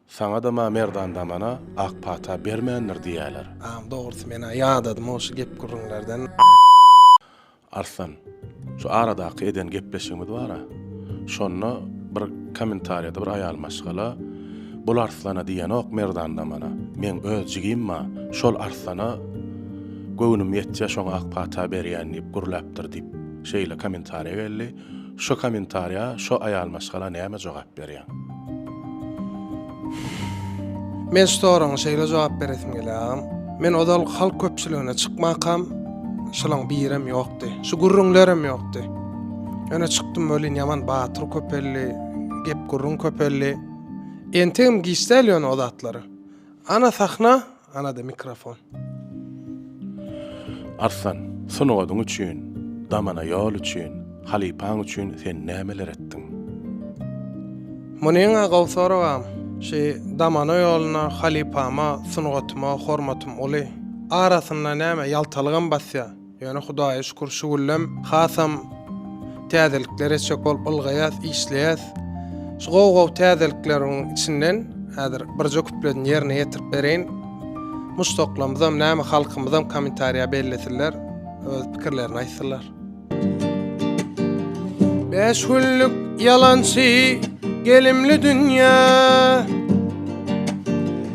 Saňadam-a Merdan damana ak pata bermändir diýýäler. Agam dogrusy men-ä ýadadym-ow şu gep-gürrüňlerden. Arslan, şu aradaky eden gepleşigimiz bar-a, şonda bir kommentariýada bir aýal maşgala Bul Arslana diýenok Merdan damana, meň öz jigim-a şol Arslana göwnüm ýetýä şoňa ak pata berýän diýip gürläpdir diýip şeýle kommentariýa geldi. Şo komentarýa şo aýal maşgala näme jogap berýär. Men şu soraňa şeýle jogap beresim gelýär agam. Men ozal halk köpçüligine çykmakam şolaň birem ýokdy. Şu gürrüňlerem ýokdy. Öne çykdym welin ýaman batyr köpeldi. Gep gürrüň köpeldi. Entegem giç däl ýöne o zatlar. Ana sahna Anada mikrofon. Arslan, sungatyň üçin, damana ýol üçin, halypaň üçin sen nämeler etdiň? Munyň-a gowy soragam. Şu damana ýoluna, halypama, sungatyma hormatym uly. Arasynda näme, ýaltalygam basýar. Ýöne Hudaýa şükür şu günem hasam täzelikler etjek bolup ylgaýas, işleýäs. Şu gowy-gowy täzelikleriň içinden häzir birje kupledini ýerine ýetirip bereýin. Muşdaklarymyzam, näme halkymyzam kommentariýa bellesinler, öz pikirlerini aýtsynlar. Bäş günlük ýalançy gelimli dünýä.